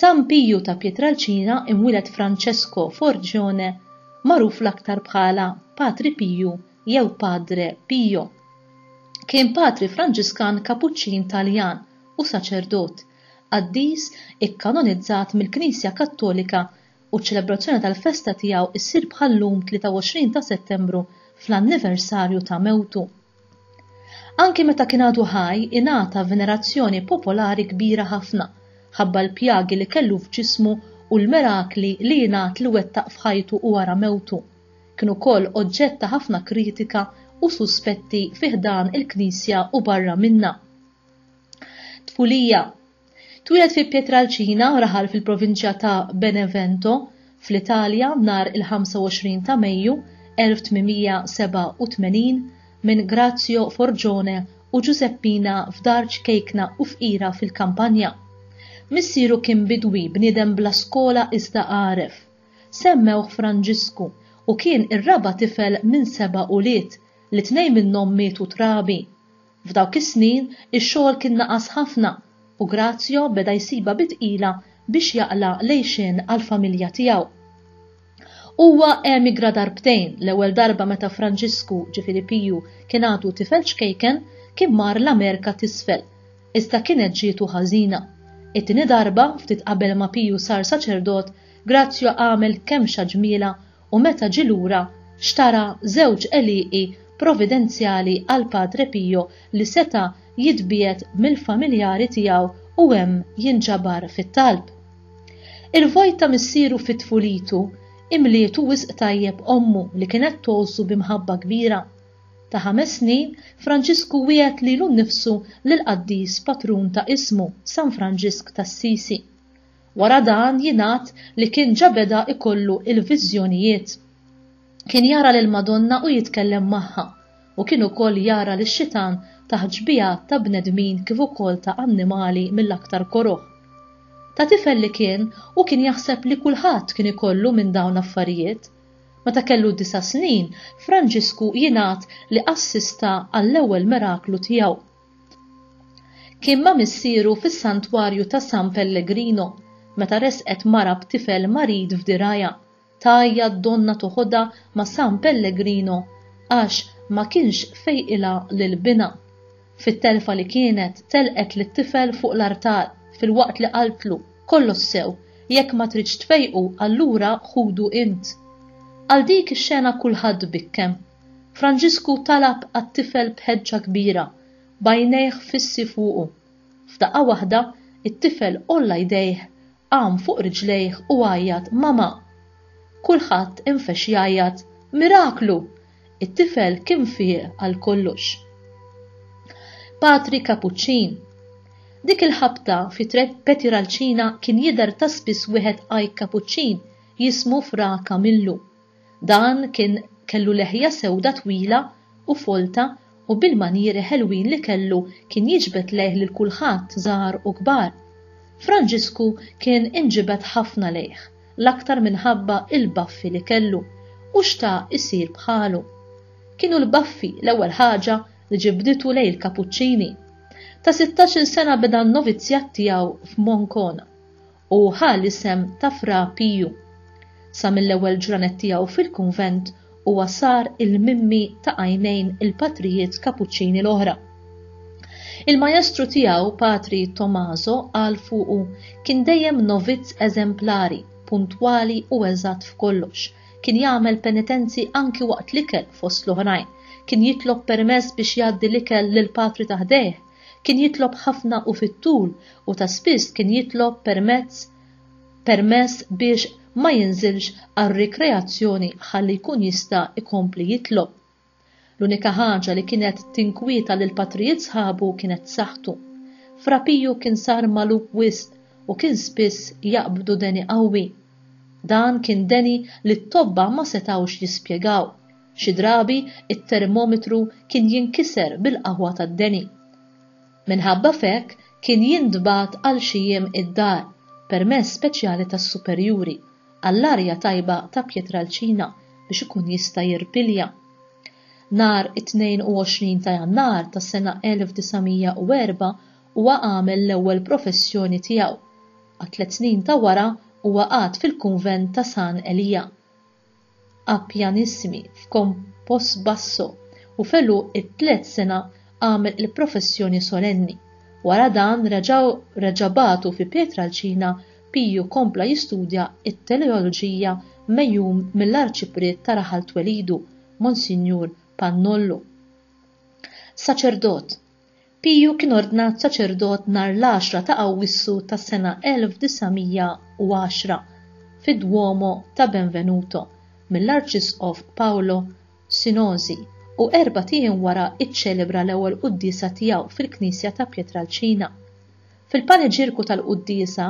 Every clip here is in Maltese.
San Piju ta' Pietralcina imwieled Francesco Forgione magħruf l-aktar bħala Patri Piju jew Padre Pio. Kien patri Franġiskan Kapuċċin Taljan u saċerdot, qaddis ikkanonizzat mill-Knisja Kattolika u ċ-ċelebrazzjoni tal-festa tiegħu ssir bħal-lum 23 ta' Settembru fl-anniversarju ta' mewtu. Anki meta kien għadu ħaj ingħata venerazzjoni popolari kbira ħafna ħabba l-pjagi li kellu f'ġismu u l-mirakli li jingħad li wettaq f'ħajtu u wara mewtu. Kien ukoll oġġett ta' ħafna kritika u suspetti fi ħdan il-Knisja u barra minnha. Tfulija Twieled fi Pietralcina u raħal fil-provinċja ta' Benevento, fl-Italja, nhar il-25 ta' Mejju, 1887, minn Grazio Forgione u Ġużeppina f'dar ċkejkna u fqira fil-Kampanja. Missieru kien bidwi, bniedem bla skola iżda għaref. Semmewh Franġisku u kien ir-raba' tifel minn seba' ulied, li tnejn minnhom mietu trabi. F'dawk is-snin, ix-xogħol kien naqas ħafna u Grazio beda jsibha bi tqila biex jaqla' l-għixien għall-familja tiegħu. Huwa emigra darbtejn, l-ewwel darba meta Franġisku, ġifieri Piju, kien għadu tifel ċkejken, kien mar l-Amerka t'Isfel, iżda kienet ġietu ħażina. It-tieni darba, ftit qabel ma Piju sar saċerdot, Grazio għamel kemxa ġmielha u meta ġie lura xtara żewġ għelieqi providenzjali għal Padre Pio li seta' jitbiegħed mill-familjari tiegħu u hemm jinġabar fit-talb. Il-vojt ta' missieru fi tfulitu imlietu wisq tajjeb ommu li kienet tgħożżu bi mħabba kbira. Ta' ħames snin, Franġisku wiegħed lilu nnifsu lill-qaddis patrun ta' ismu, San Franġisk t'Assisi. Wara dan jingħad li kien ġa beda ikollu il-viżjonijiet. Kien jara lill-Madonna u jitkellem magħha, u kien ukoll jara lix-xitan taħt xbiehat ta' bnedmin kif ukoll ta' annimali mill-aktar koroh. Ta' tifel li kien, hu kien jaħseb li kulħadd kien ikollu minn dawn l-affarijiet. Meta kellu disa' snin, Franġisku jingħad li assista għall-ewwel miraklu tiegħu. Kien ma' missieru fis-Santwarju ta' San Pellegrino meta resqet mara b'tifel marid f'dirgħajha, tgħajjat donnha toħodha ma' San Pellegrino għax ma kienx fejqilha lil binha. Fit-telfa li kienet, telqet lit-tifel fuq l-artal, filwaqt li qaltlu, Kollox sew, jekk ma tridx tfejqu allura ħudu int. Għal dik ix-xena kulħadd bikkem. Franġisku talab għat-tifel b'ħeġġa kbira, b'għajnejh fissi fuqu. F'daqqa waħda, it-tifel għolla jdejh, qam fuq riġlejh u għajjat, Mama! Kulħadd infex jgħajjat, Miraklu! It-tifel kien fieq għal kollox. Patri Kapuċċin Dik il-ħabta fi Petiralcina kien jidher ta' spiss wieħed għajk Kapuċċin jismu Fra Kamillu. Dan kien kellu leħja sewda twila u folta u bil-manjieri ħelwin li kellu kien jiġbed lejh lil kulħadd żgħar u kbar. Franġisku kien inġibed ħafna lejh, l-aktar minħabba il-baffi li kellu u xtaq isir bħalu. Kienu l-baffi l-ewwel ħaġa li ġibditu lejn il-Kapuċċini. Ta' sittax-il sena beda n-novizzjat tiegħu f'Moncona u ħa l-isem ta' Fra Piju. Sa mill-ewwel ġranet tiegħu fil-kunvent huwa sar il-mimmi ta' għajnejn il-patrijiet Kapuċċini l-oħra. Il-majestru tiegħu, Patri Tommaso, qal fuqu, kien dejjem novizz eżemplari, puntwali u eżatt f'kollox, kien jagħmel penitenzi anki waqt l-ikel fost l-oħrajn, kien jitlob permess biex jgħaddi l-ikel lill-patri ta' ħdejh, Kien jitlob ħafna u fit-tul u ta' spiss kien jitlob permezz permess biex ma jinżilx għar-rikreazzjoni ħalli jkun jista' jkompli jitlob. L-unika ħaġa li kienet tinkwieta lill-patrijiet sħabu kienet saħħtu. Fra Piju kien sar magħluq wisq u kien spiss jaqbdu deni qawwi. Dan kien deni li t-tobba ma setgħux jispjegaw. Xi drabi t-termometru kien jinkiser bil-qaħwa tad-deni. Minħabba f'hekk kien jintbagħat għal xi jiem id-dar, permess speċjali tas-superjuri, għall-arja tajba ta' Pietralcina biex ikun jista' jirpilja. Nhar it-22 ta' Jannar tas-sena 1904 huwa għamel l-ewwel professjoni tiegħu. Għat-tliet snin ta' wara huwa qagħad fil-kunvent ta' San Elija. A pianissimi f'con post basso u f'elu it-tliet sena għamel il-professjoni solenni. Wara dan reġgħu reġa' bagħtu fi Pietralcina Piju kompla jistudja t-teleoloġija megħjum mill-Arċipriet ta' raħal twelidu, Monsinjur Pannollu. Saċerdot. Piju kien ordnat saċerdot nhar l-għaxra ta' Awwissu tas-sena 1910 fid-Duomo ta' Benvenuto mill-Arċisqof Paolo Sinosi u erbat ijiem wara iċċelebra l-ewwel quddiesa tiegħu fil-knisja ta' Pietralcina. Fil-paniġirku tal-quddiesa,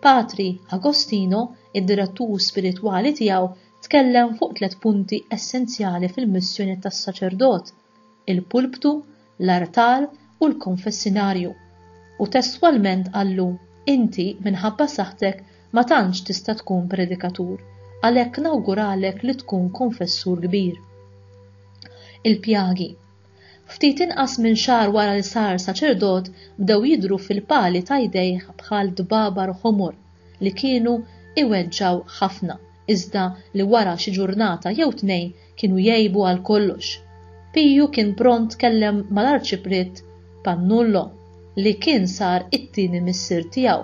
Patri Agostino, id-direttur spiritwali tiegħu, tkellem fuq tliet punti essenzjali fil-missjoni tas-saċerdot, il-pulptu, l-artal u l-konfessinarju. U testwalment qallu, Inti, minħabba saħħtek, ma tantx tista' tkun predikatur, għalhekk nawguralek li tkun konfessur kbir. Il-pjagi. Ftit inqas minn xahar wara li sar saċerdot, bdew jidhru fil-pali ta' jdejh bħal dbabar ħomor li kienu iweġġgħu ħafna, iżda li wara xi ġurnata jew tnejn Kienu jgħibu għal kollox. Piju kien pront tkellem mal-Arċipriet Pannullo li kien sar it-tieni missier tiegħu.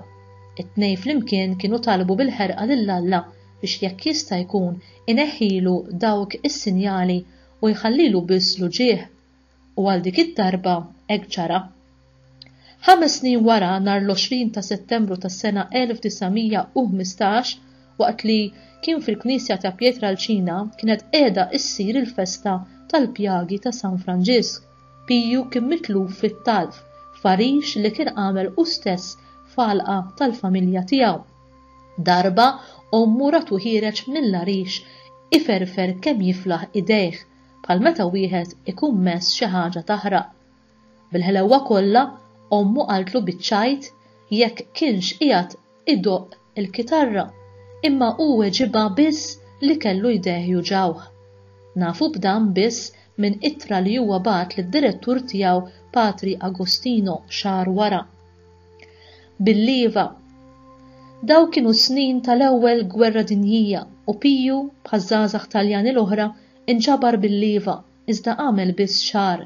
It-tnejn flimkien kienu talbu bil-ħerqa lil Alla biex jekk jista' jkun ineħħilu dawk is-sinjali u jħallilu biss l-uġigħ U għal dik id-darba hekk ġara. Ħames snin wara, nhar l-20 ta' Settembru tas-sena 1915, waqt li kien fil-knisja ta' Pietralcina kienet qiegħda ssir il-festa tal-pjagi ta' San Franġisk, Piju kien mitluf fit-talf f'għarix li kien għamel hu stess f'għalqa tal-familja tiegħu. Darba ommu ratu ħiereġ mill-għarix iferfer kemm jiflaħ idejh bħal meta wieħed ikun mess xi ħaġa taħraq. Bil-ħlewwa kollha, ommu qaltlu biċ-ċajt jekk kienx qiegħed idoqq il-kitarra, imma hu weġibha biss li kellu jdejh juġgħuh. Nafu b'dan biss minn ittra li huwa bagħat lid-direttur tiegħu Patri Agostino xahar wara. Bil-lieva, Daw kienu s-snin tal-Ewwel Gwerra Dinjija u Piju bħaż-żgħażagħ Taljani l-oħra Inġabar bil-lieva iżda għamel biss xahar,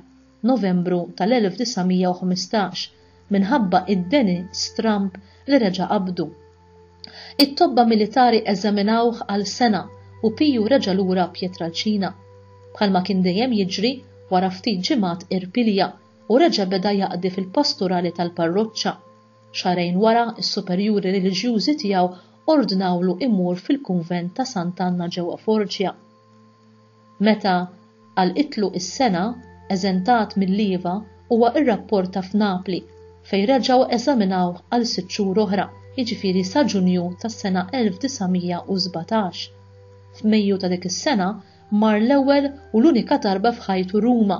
Novembru tal-1915, minħabba d-deni stramb li reġa' qabdu. It-tobba militari eżaminawh għal sena u Piju reġa' lura Pietralcina. Bħalma kien dejjem jiġri, wara ftit ġimgħat irpilja u reġa' beda jaqdi fil-pasturali tal-parroċċa. Xahrejn wara s-superjuri reliġjużi tiegħu ordnawlu imur fil-kunvent ta' Sant'Anna ġewwa Forġja. Meta għal itlu is-sena eżentat mill-iva huwa rrapporta f'Napli fejn reġgħu eżaminawh għal sitt xhur oħra, jiġifieri sa Ġunju tas-sena 1917. F'Mejju ta' dik is-sena mar l-ewwel u l-unika darba f'ħajtu Ruma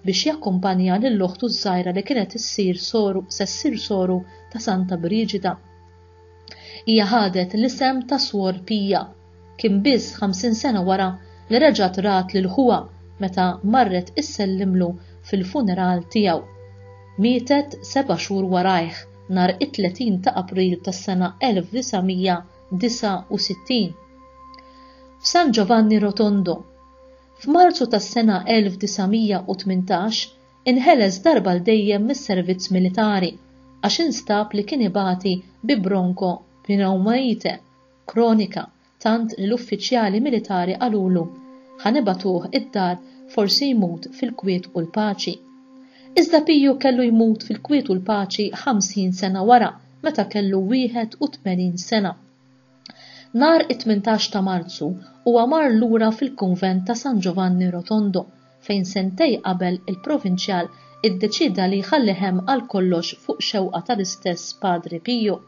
biex jakkumpanja lil oħtu ż-żgħira li kienet issir soru se ssir soru ta' Santa Briġida. Hija ħadet l-isem ta' Swor Pija. Kien biss ħamsin sena wara li reġgħet rat lil ħuha meta marret issellimlu fil-funeral tiegħu. Mietet seba' xhur warajh nhar it-30 ta' April tas-sena 1969. F'San Giovanni Rotondo. F'Marzu tas-sena 1918 inħeles darba 'l dejjem mis-servizz militari għax instab li kien ibati bi bronko pneumaite, kronika, tant li l-uffiċjali militari qalulu, Ħa nibagħtuh id-dar forsi jmut fil-kwiet u l-paċi. Iżda Piju kellu jmut fil-kwiet u l-paċi ħamsin sena wara meta kellu 81 sena. Nhar it-tmintax ta' Marzu huwa mar lura fil-kunvent ta' San Ġovanni Rotondo fejn sentej qabel il-provinċjal iddeċieda li jħallih hemm għal kollox fuq xewqa tal-istess Padre Piju.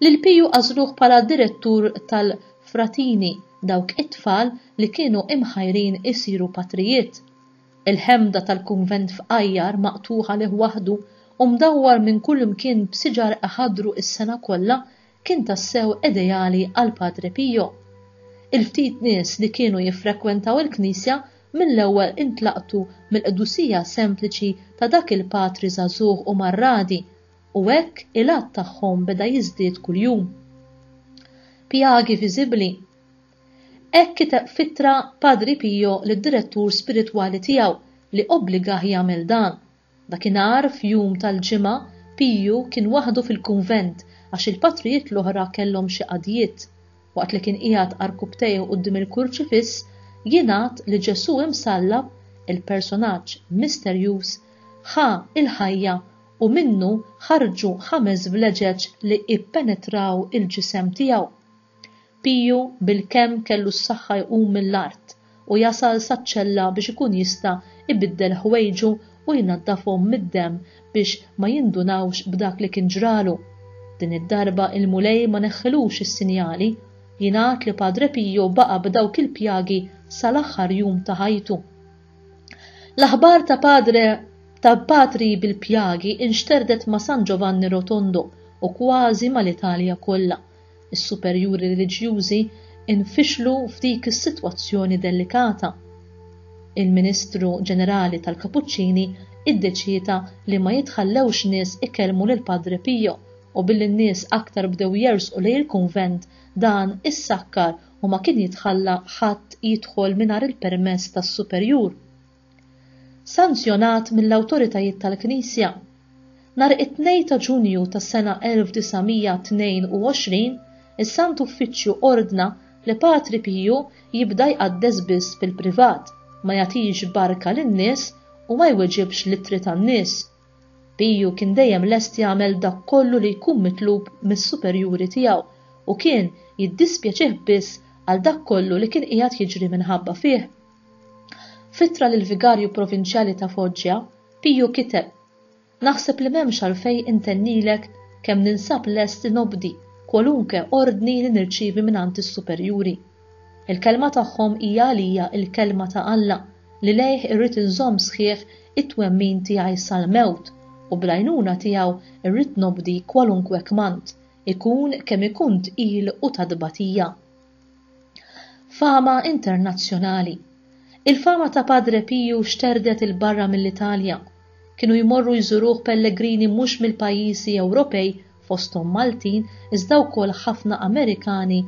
Lil Piju għażluh bħala direttur tal-fratini, dawk it-tfal li kienu imħajrin isiru patrijiet. Il-ħemda tal-kunvent fqajjar maqtugħ għalih waħdu u mdawwar minn kullimkien b'siġar iħaddru s-sena kollha kien tassew ideali għal Padre Pio. Il-ftit nies li kienu jiffrekwentaw il-knisja mill-ewwel intlaqtu mill-qdusija sempliċi ta' dak il-patri żagħżugħ u marradi u hekk il-għadd tagħhom beda jiżdied kuljum. Pjagi viżibbli. Hekk kiteb f'ittra Padre Pio lid-direttur spiritwali tiegħu li obbligah jagħmel dan. Dakinhar f'jum tal-Ġimgħa, Pio kien waħdu fil-kunvent għax il-patrijiet l-oħra kellhom xi qadjiet. Waqt li kien qiegħed għarkupptejh quddiem il-kurċifiss, jingħad li Ġesù imsallab, il-personaġġ misterjuż, ħa l-ħajja u minnu ħarġu ħames vleġeġ li ppenetraw il-ġisem tiegħu. Piju bilkemm kellu s-saħħa jqum mill-art u jasal saċ-ċella biex ikun jista' jbiddel ħwejġu u jnaddafhom mid-demm biex ma jindunawx b'dak li kien ġralu. Din id-darba il-Mulej ma neħħilux is-sinjali. Jingħad li Padre Piju baqa' b'dawk il-pjagi sal-aħħar jum ta' ħajtu. L-aħbar ta' padre ta' patri bil-pjagi inxterdet ma' San Ġovanni Rotondo u kważi mal-Italja kollha. Is-superjuri reliġjużi nfixlu f'dik is-sitwazzjoni delikata. Il-Ministru Ġenerali tal-Kapuċċini iddeċieda li ma jitħallewx nies ikellmu lil Padre Pio u billi n-nies aktar bdew jersqu lejn il-kunvent dan issakkar u ma kien jitħalla ħadd jidħol mingħajr il-permess tas-superjur. Sanzjonat mill-awtoritajiet tal-Knisja, nhar it-Tnejn ta' Ġunju tas-sena 1922 is-Sant Uffiċċju ordna li Patri Piju jibda jqaddes biss fil-privat, ma jagħtix barka lin-nies u ma jweġibx l-ittri tan-nies. Piju kien dejjem lest jagħmel dak kollu li jkun mitlub mis-superjuri tiegħu u kien jiddispjaċih biss għal dak kollu li kien qiegħed jiġri minħabba fih. F'ittra lill-vigarju provinċjali ta' Foggia, Piju kiteb, Naħseb li m'hemmx għalfejn intennilek kemm ninsab lest li nobdi kwalunke ordni li nirċievi mingħand is-superjuri. Il-kelma tagħhom hija għalija l-kelma ta' Alla li lejh irrid inżomm sħiħ it-twemmin tiegħi sal-mewt u bl-għajnuna tiegħu rrid nobdi kwalunkwe kmand, ikun kemm ikun tqil u ta' tbatija. Fama internazzjonali Il-fama ta' Padre Piju xterdet 'il barra mill-Italja. Kienu jmorru jżuruh pellegrini mhux mill-pajjiżi Ewropej fosthom Maltin iżda wkoll ħafna Amerikani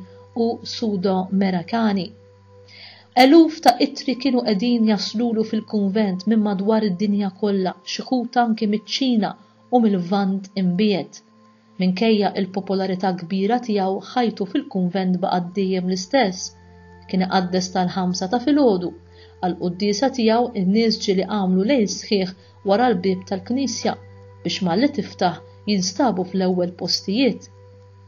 u Sudo-Merakani. Eluf ta' ittri kienu qegħdin jaslulu fil-kunvent minn madwar id-dinja kollha, xi wħud anki miċ-Ċina u mil-Lvant Imbiegħed. Minkejja l-popolarità kbira tiegħu ħajtu fil-kunvent baqgħet dejjem l-istess. Kien iqaddes tal-ħamsa ta' filgħodu. Għall-quddiesa tiegħu n-nies ġieli għamlu lejl sħiħ wara l-bieb tal-knisja biex malli tiftaħ jinstabu fl-ewwel postijiet.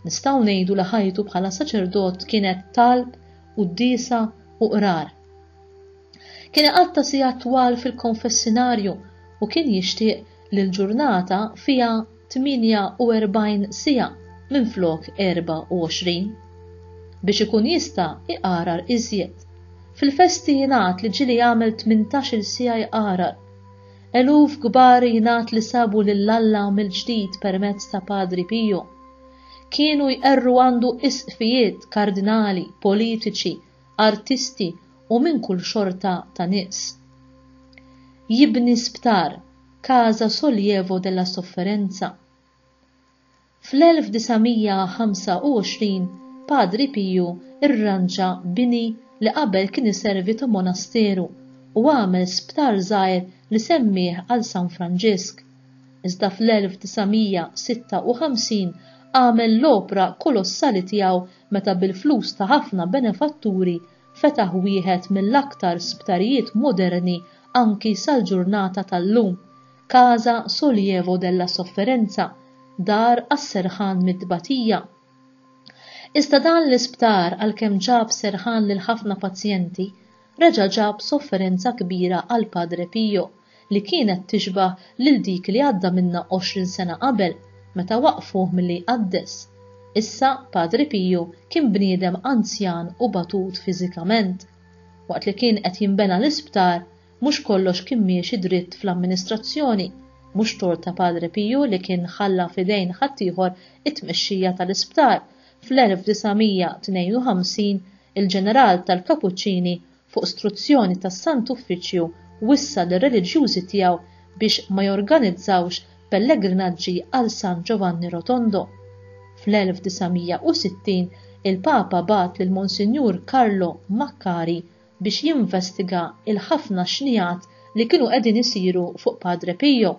Nistgħu ngħidu li ħajtu bħala saċerdot kienet talb, quddiesa u qrar. Kien iqatta' sigħat twal fil-konfessinarju u kien jixtieq li l-ġurnata fiha 48 siegħa minflok 24, biex ikun jista' jqarar iżjed. Fil-festi jingħad li ġieli jagħmel tmintax-il siegħa jqarar. Eluf kbar jingħad li sabu lil Alla mill-ġdid permezz ta' Padri Pio. Kienu jqerru għandu isqfijiet, kardinali, politiċi, artisti u minn kull xorta ta' nies. Jibni sptar. Casa Sollievo della Sofferenza. Fl-1925 Padri Piju rranġa bini li qabel kien iservi ta' monasteru u għamel sptar żgħir li semmieh għal San Franġisk. Iżda fl-1956 għamel l-opra kolossali tiegħu meta bil-flus ta' ħafna benefatturi fetaħ wieħed mill-aktar sptarijiet moderni anki sal-ġurnata tal-lum, Casa Sollievo della Sofferenza, Dar għas-Serħan mit-Tbatija. Iżda dan l-isptar għalkemm ġab serħan lil ħafna pazjenti, reġa' ġab sofferenza kbira għal Padre Pio. li kienet tixbah lil dik li għadda minnha għoxrin sena qabel meta waqqfuh milli jqaddes. Issa Padre Piju kien bniedem anzjan u batut fiżikament. Waqt li kien qed jinbena l-isptar, mhux kollox kien miexi dritt fl-amministrazzjoni, mhux tort ta' Padre Piju li kien ħalla f'idejn ħaddieħor it-tmexxija tal-isptar fl-1952, il-ġeneral tal-Kapuċċini fuq struzzjoni tas-Sant Uffiċċju wissa lir-reliġjużi tiegħu biex ma jorganizzawx pellegrinaġġi għal San Ġovanni Rotondo. Fl-1960 il-Papa bagħat lil Monsinjur Carlo Maccari biex jinvestiga l-ħafna xnigħat li kienu qegħdin isiru fuq Padre Pio.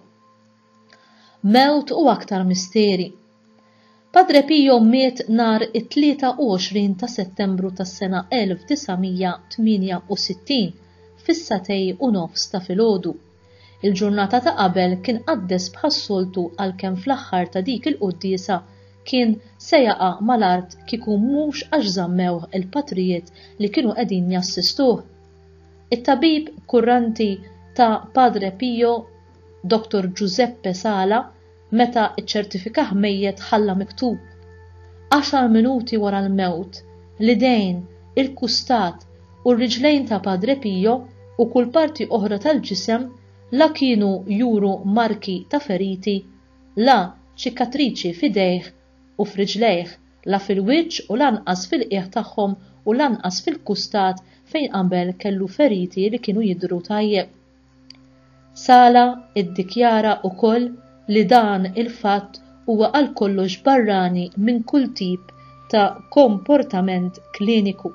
Mewt u aktar misteri. Padre Pio miet nhar it-23 ta' Settembru tas-sena 1968 fis-satej u nofs ta' filgħodu. Il-ġurnata ta' qabel kien qaddes bħas-soltu għalkemm fl-aħħar ta' dik il-quddiesa kien se jaqa' mal-art kieku mhux għax żammewh il-patrijiet li kienu qegħdin jassistuh. It-tabib kurranti ta' Padre Pio Dottor Giuseppe Sala meta ċċertifikah mejjet ħalla miktub, Għaxar minuti wara l-mewt, l-idejn, il-kustat u r-riġlejn ta' Padre Pio u kull parti oħra tal-ġisem la kienu juru marki ta' feriti, la ċikatriċi f'idejh u f'riġlejh, la fil-wiċċ u lanqas fil-qiegħ tagħhom u lanqas fil-kustat fejn qabel kellu feriti li kienu jidhru tajjeb. Sala iddikjara wkoll li dan il-fatt huwa għal kollox barrani minn kull tip ta' komportament kliniku.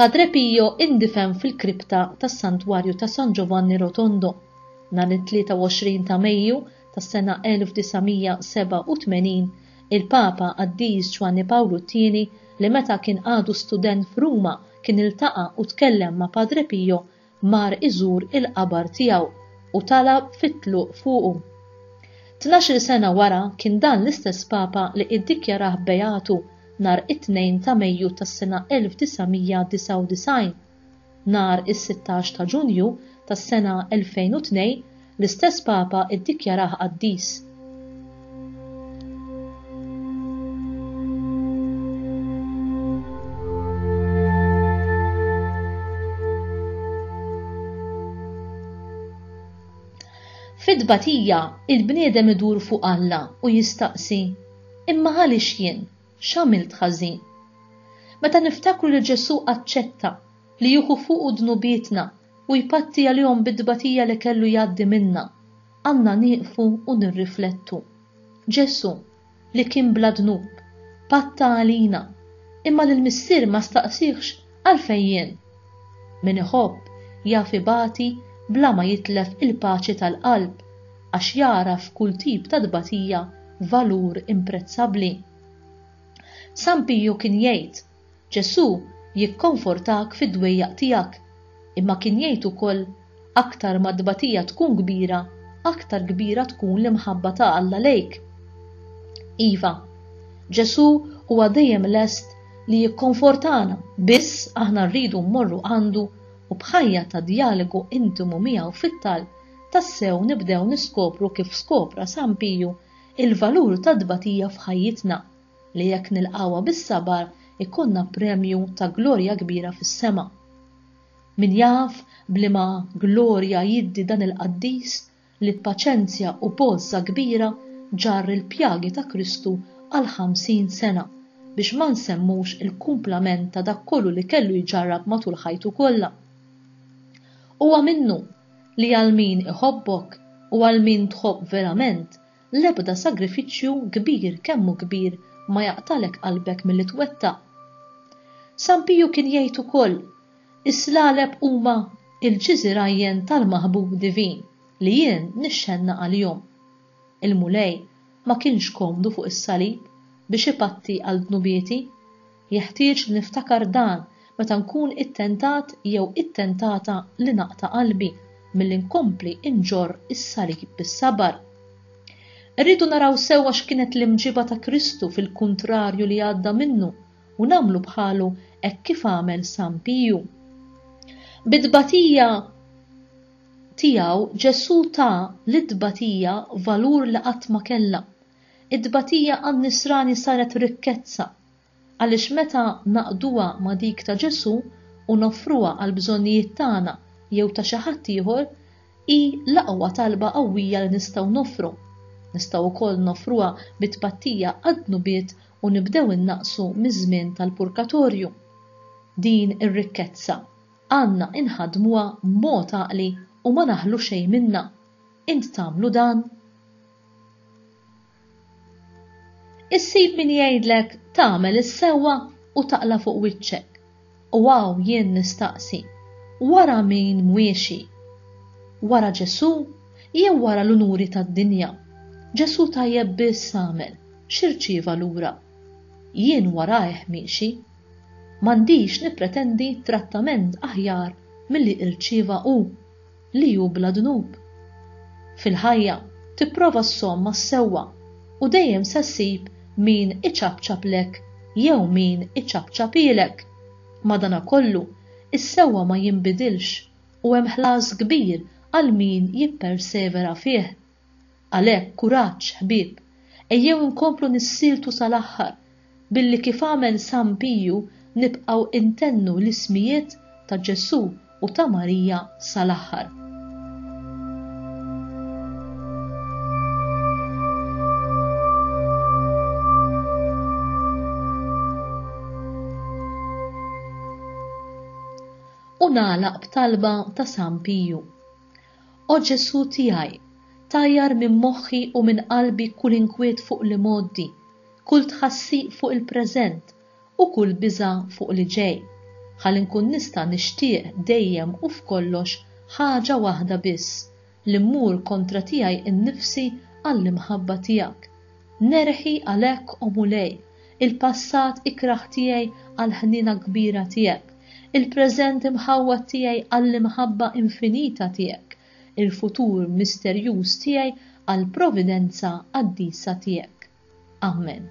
Padre Pio indifen fil-kripta tas-Santwarju ta' San Giovanni Rotondo, nhar it-23 ta' Mejju tas-sena 1987, il-Papa Qaddis Ġwanni Pawlu t-Tieni li meta kien għadu student f'Ruma kien iltaqa' u tkellem ma' Padre Pio mar iżur il-qabar tiegħu u talab fit-tluq fuqu. Tnax-il sena wara kien dan l-istess Papa li iddikjarah beatu nhar it-Tnejn ta' Mejju tas-sena 1999. Nhar is-sittax ta' Ġunju tas-sena 2002 L-istess Papa ddikjarah qaddis. Fit-tbatija, il-bniedem idur fuq Alla u jistaqsi, Imma għaliex jien? X'għamilt ħażin? Meta niftakru li Ġesù aċċetta li jieħu fuqu dnubietna u jpatti għalihom bit-tbatija li kellu jgħaddi minnha, għandna nieqfu u nirriflettu. Ġesù, li kien bla dnub, patta għalina, imma lill-Missier ma staqsihx, Għalfejn jien? Min iħobb jaf ibati bla ma jitlef il-paċi tal-qalb, għax jara f'kull tip ta' tbatija valur imprezzabbli. San Piju kien jgħid, Ġesù jikkonfortak fid-dwejjaq tiegħek, imma kien jgħid ukoll, Aktar ma t-tbatija tkun kbira, aktar kbira tkun l-imħabba ta' Alla lejk. Iva, Ġesù huwa dejjem lest li jikkonfortana, biss aħna rridu mmorru għandu u b'ħajja ta' djalogu intimu miegħu fit-talb tassew nibdew niskopru kif skopra San Piju l-valur tat-tbatija f'ħajjitna. li jekk nilqgħuha bis-sabar ikollna premju ta' glorja kbira fis-sema. Min jaf b'liema glorja jiddi dan il-qaddis li b'paċenzja u b'għożża kbira ġarr il-pjagi ta' Kristu għal ħamsin sena, biex ma nsemmux il-kumplament ta' dak kollu li kellu jġarrab matul ħajtu kollha. Huwa minnu li għal min iħobbok u għal min tħobb verament L-ebda sagrifiċċju, kbir kemm hu kbir, ma jaqtagħlek qalbek milli twettaq. San Piju kien jgħid ukoll, Is-slaleb huma l-ġiżirajjen tal-maħbub divin li jien nixxennaq għalihom. Il-Mulej ma kienx komdu fuq is-salib biex ipatti għal dnubieti. Jeħtieġ li niftakar dan meta nkun ittentat jew ittentata li naqta' qalbi milli nkompli nġorr is-salib bis-sabar. Irridu naraw sewwa x'kienet l-imġiba ta' Kristu fil-kuntrarju li għadda minnu u nagħmlu bħalu hekk kif għamel San Piju. Bit-tbatija tiegħu Ġesù ta lit-tbatija valur li qatt ma kellha. It-tbatija għan-Nisrani saret rikkezza Għaliex meta naqduha ma' dik ta' Ġesù u noffruha għall-bżonnijiet tagħna jew ta' xi ħadd ieħor, hi l-aqwa talba qawwija li nistgħu noffru. Nistgħu wkoll noffruha bi tpattija għad-dnubiet u nibdew innaqqsu miż-żmien tal-purkatorju. Din ir-rikkezza għandna inħaddmuha b'mod għaqli u ma naħlu xejn minnha. Int tagħmlu dan? Issib min jgħidlek tagħmel is-sewwa u taqla' fuq wiċċek. U hawn jien nistaqsi, wara min mwiexi? Wara Ġesù jew wara l-unuri tad-dinja? Ġesù tajjeb biss għamel, x'irċieva lura? Jien warajh miexi. M'għandix nippretendi trattament aħjar milli irċieva hu. li hu bla dnub. Fil-ħajja, tipprova ssomm mas-sewwa u dejjem se ssib min iċapċaplek jew min iċapċaphielek. Madanakollu, is-sewwa ma jinbidilx u hemm ħlas kbir għal min jippersevera fih. Għalhekk, kuraġġ, ħbieb! Ejjew inkomplu nissieltu sal-aħħar, billi kif għamel San Piju nibqgħu intennu l-ismijiet ta' Ġesù u ta' Marija sal-aħħar. U nagħlaq b'talba ta' San Piju. O Ġesù tiegħi, tajjar minn moħħi u minn qalbi kull inkwiet fuq l-imgħoddi, kull tħassiq fuq il-preżent u kull biża' fuq li ġej, ħalli nkun nista' nixtieq dejjem u f'kollox ħaġa waħda biss, li mmur kontra tiegħi nnifsi għall-imħabba tiegħek. Nerħi għalhekk, O Mulej, il-passat ikrah tiegħi għall-ħniena kbira tiegħek, il-preżent imħawwad tiegħi għall-imħabba infinita tiegħek, il-futur misterjuż tiegħi għall-providenza qaddisa tiegħek. Amen.